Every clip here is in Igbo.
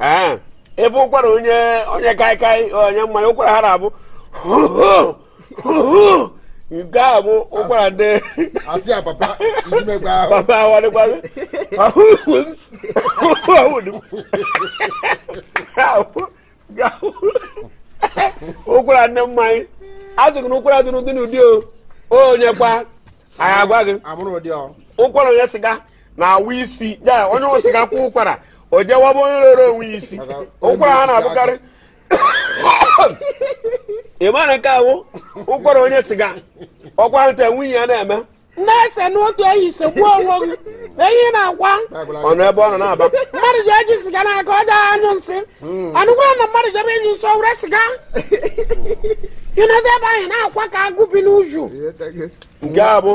ee ebe ụkwara onye onye kaikai onye mmanya ụkwara ha na-abụ nke a bụ ụkwara ndị asị a papa ijimekwa ahụ papa awadịkwazi ụkwara ndị mmanya a sị gị na ụkwara dị n'ụdị n'ụdị o onye kwa ya agwa gị amụrụ ụdị ọ ụkwara onye siga na-awụ isi ya onye ṅụ siga kwa ụkwara o jewaba onye rere onwe ya isi ụkwara ha na-abụkarị ị mara nke a wụ ụkwara onye siga ọ kwata nwunye ya na-eme na-ese n'otu ehi i segbuo onwe gị ehi na-akwa ọnụ ebe ọ nọ na-aba mmadụ ji eji siga n'aka ọ ga-anyụ nsị anụkwara na mmadụ jebe ịnyụ nsị were siga ịnọzi ebe ahụ na-akwa ka agụ bi n'uju nke a bụ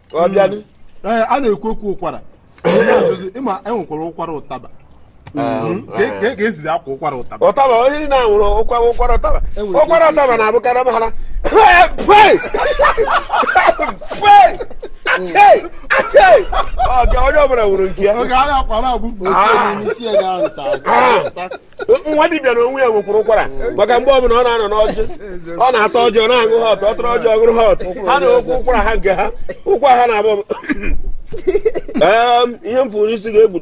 hmm. ọ bịanụ a na-ekwu okwu ụkwara ịma enwekwara ụkwara ụtaba ah, hmm. ka e sizi akwa ụkwara ụtaba ụtaba onye niile a nwere ụkwara ụkwara ụtaba ụkwara ụtaba na-abụkarị mhara onye ọbụla nwere nke ya nwa dibịa na onwe ya nwekwuru ụkwara maka mgbe ọbụla ọ na-anọ n'ọjị ọ na-ata ọjị ọ na-aṅụ hot ọ tara ọjị ọ ṅụrụ hot ha na-akwa ụkwara ha nke ha ụkwara ha na-abụ ihe m pụrụ isi ga-egbu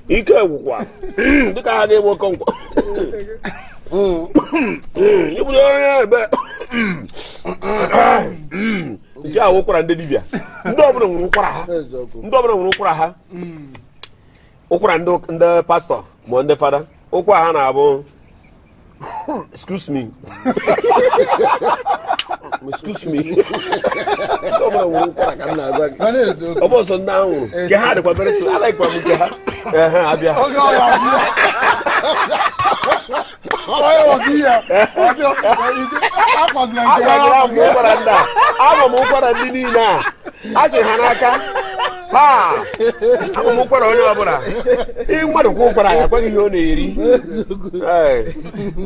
ike gwụkwa dịka ha ga-egbu oke nkwa ịbụrụ onye ebe nke a ụkwara ndị dibịa ndị ọbụla nwere ụkwara ha ndị ọbụla nwere ụkwara ha ụkwara ndị ụk- ndị pastọ ma ndị fada ụkwara ha na-abụ excuse me excuse me Ndị ọbụla nwere ụkwara ka m na-agwa gị. Mana eziokwu. ọ bụ sọ ndị ahụ nwere nke ha dịkwa very slow alaghịkwa m nke ha ehe abịa Oge ọ ya abịa. ama m ụkwara ndị niile a achị ha n'aka ha ama m ụkwara onye ọbụla ị mmadụ kwa ụkwara ya agwa gị ihe ọ na-eri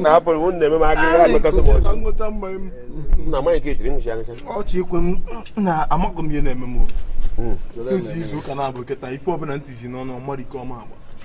na apụrụ m na-eme m aga ihe alụkasị m ọchị na amaghị nke echiri nwụchi agacha ọchị ikwe m na amaghị m ihe na-eme m sinsi izu ụka na-abụ kịta ife ọbụla ntị ji n'ọnụ ọmarike ọma agba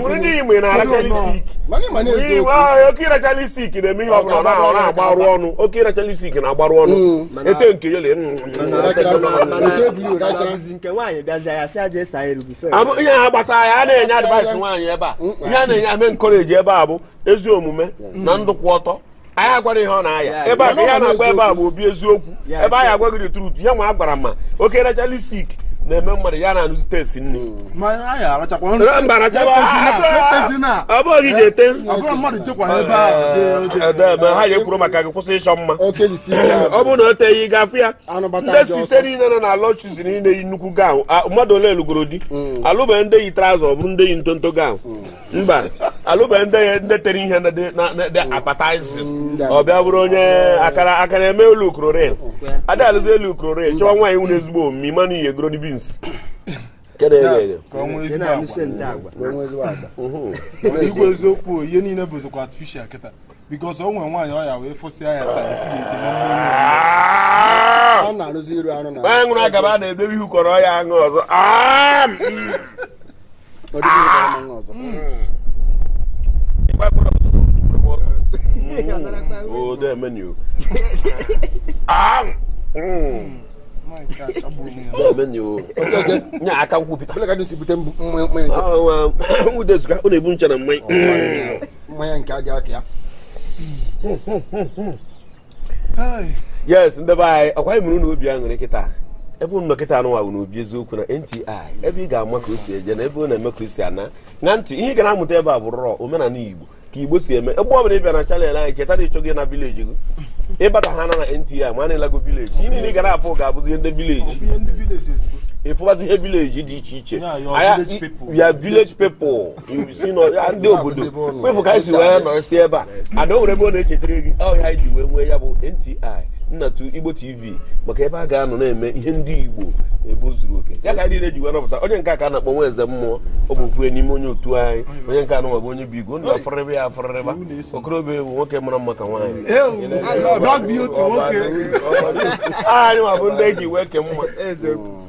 nwere ndị Igbo na-arachalistik oke irachalistik na-eme ihe ọbụla ọ na-agbarụ ọnụ oke irachalistik na-agbarụ ọnụ ete nke yele ihe gbasara ya a na-enye advice nwaanyị ebe a ihe a na-enye ame encourage ebe a bụ ezi omume na ndụ kwụ ọtọ anyị agwara ihe ọ na-aya ebe a ka ihe a na-agwa ebe a bụ obi eziokwu ebe anyị agwa gị the truth ihe nwa a gwara ma oke racha lipstick na-eme mmadụ ya na-anụzi taste nri mba ọ bụghị ji ete edebe ha ya ekwuru maka gị kwụsị ịchọ mma ọ bụrụ na o teghị ị ga-afụ ya ndị sister niile nọ na lord chosen niile yi nnukwu gown mmadụ ole lụgoro di alụbeghị ndị yi trouser ọ bụrụ ndị yi ntonto gown mba alụbeghị ndị ya ndị tere ihe dị appetizing ọ bịa bụrụ onye akara akara eme elu ukrorin ada alụzi elu ukrorin chọwa nwaanyị nwere ezigbo omume ị ma na ihe goro beans eziokwu ihe niile bụzikwa artificial kịta because o nwere nwaanyị ọya wee fụsịa ya a na-arụzi iru arụ na nwaanyị nwụrụ agaba na-edobe ihu kọrọ ya aṅụ ọzọ nye aka nkwupụta nwudezuga ọ na-ebu nche na mmanya mmanya nke aja aka ya yes ndị be anyị ọkwa anyị mụrụ na obi aṅụrị kịta ebe unu nọ kịta anụnwa bụ n'obi eziokwu na nti ebe ị ga-ama ka o si eje na ebe ọ na-eme ka o si ana na nti ihe ị ga na-amụta ebe a bụ raw omenala igbo ka igbo si eme ebe ọ bụla ị bịa na channel anyị cheta na ịchọghị na village gị ịbata ha na na nti ma na ị lago village ihe niile ị ga na-afụ ga-abụzi ihe ndị village ịfụbazi ihe village dị iche iche ya village people si na ya ndị obodo kwefu ka anyị si wee nọrọ si ebe a ada o nwere ebe ọ na-echetara gị ọ ya anyị ji wee nwee ya bụ nti nnatu igbo tv maka ebe a ga-anọ na-eme ihe ndị igbo ebe o zuru oke ya ka anyị niile ji wee nọpụta onye nke a ka a na-akpọ nwa eze mmụọ ọ bụ ofu n'ime onye otu anyị onye nke anụnwa bụ onye bụ igwe ndụ afọrịrịba ya afọrịrịba okorobịa bụ nwoke mara mma ka nwaanyị anyị nwa bụ ndị e ji wee ke mma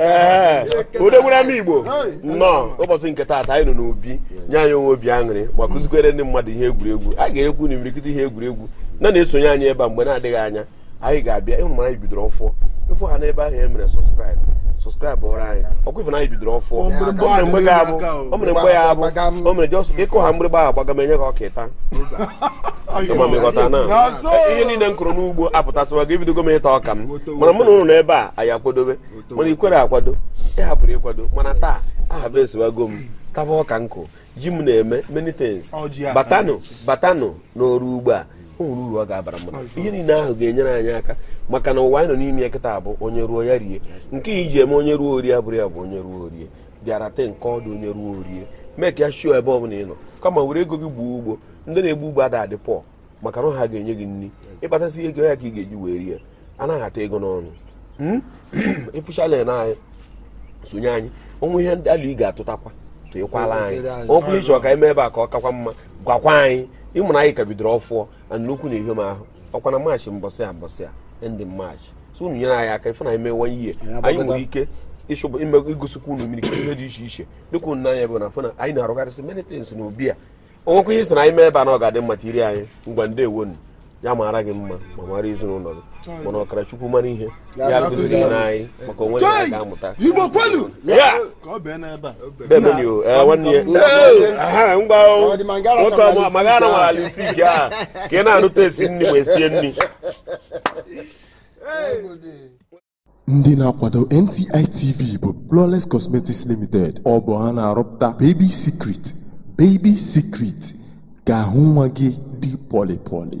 ee odogwere ama igbo nnọọ ụbọchị nke taata anyị nọ n'obi nye anyị onwe obi aṅụrị ma kuzikwere ndị mmadụ ihe egwuregwu a ga-ekwu na imirikịta ihe egwuregwu na na-esonye anyị ebe a mgbe na-adịghị anya anyị ga-abịa ịhụ mara anyị bidoro ọfụụ ị fụ ha n'ebe ahụ e dere subscribe subscribe ọrụ anyị ọkwa ị fụ na anyị bidoro ọfụụ o mere mgbe ya abụ o mere mgbe ya abụ o mere just ịkụ ha mgbịrịgba ahụ gbaga m enye gị ọka ịta ịma m ịghọta na ihe niile m kụrụ n'ugbo apụtasịwago ebidogo m ịta ọka m mana mụ na unu n'ebe a anyị akwadobe mana ị kwere akwado ị hapụrụ ịkwado mana taa aha bụ esiwago m taba ọka nkụ ji m na-eme many things batanụ batanụ n'ọrụ ugbo a o nwere uru ọ ga-abara mmadụ ihe niile ahụ ga-enyere anyị aka maka na ụwa anyị nọ n'ime ya kịta bụ onye rụọ ya rie nke e ji eme onye rụọ o rie abụrụ ya bụ onye rụọ o rie bịara te nke ọdụ onye rụọ o rie mee ka ya show ebe ọ bụla ị nọ kama were ego gị gbuo ugbo ndị na-egbu ugbo ada adị poor maka na ha ga-enye gị nri ịkpatasị ego ya ka ị ga-eji wee rie anaghị ata ego n'ọnụ hmm? ịfụchala na anyị sonye anyị o nwee ihe ndị alo ị ga-atụtakwa tụnyekwala anyị ọ bụrụ ị chọọ ka e mee ebe a ka ọ kakwa mma gwakwa anyị ị ma na anyị ka bidoro ọfụọ na nnukwu na ihe m ahụ ọkwa na maachị mbọsị a ndị maachị so unu nyere anyị aka ife na anyị mewe ihe anyị nwere ike ịchọba igosikwa unu mmiri ihe dị iche iche dịka unu n'anya bụ na fụ na anyị na-arụgharịsị many things na obi a o nwekwa ihe ị sị na anyị mee ebe a na ọ ga-adị mma tiri anyị ngwa ndeewo nụ. ya mara gị mma ma mara ezinụlọ gị mana ọkara Chukwu mara ihe ya akụziri anyị maka onwe ya anyị ga-amụta Igbo kwenu Ya! ka ọ bee n'ebe a Demeni o, eh, nwanne ya. Eh, aha, ngwa o. Ọ dị ma ngara Nwoke chọrọ ọma, ma gara nwara lipstick a ka ị na-anụta esi nri ma esie nri ndị na-akwado NTI TV bụ Flawless Cosmetics Limited ọ bụ ha na-arụpụta Baby Secret Baby Secret ka ahụ nwa gị dị pọlị pọlị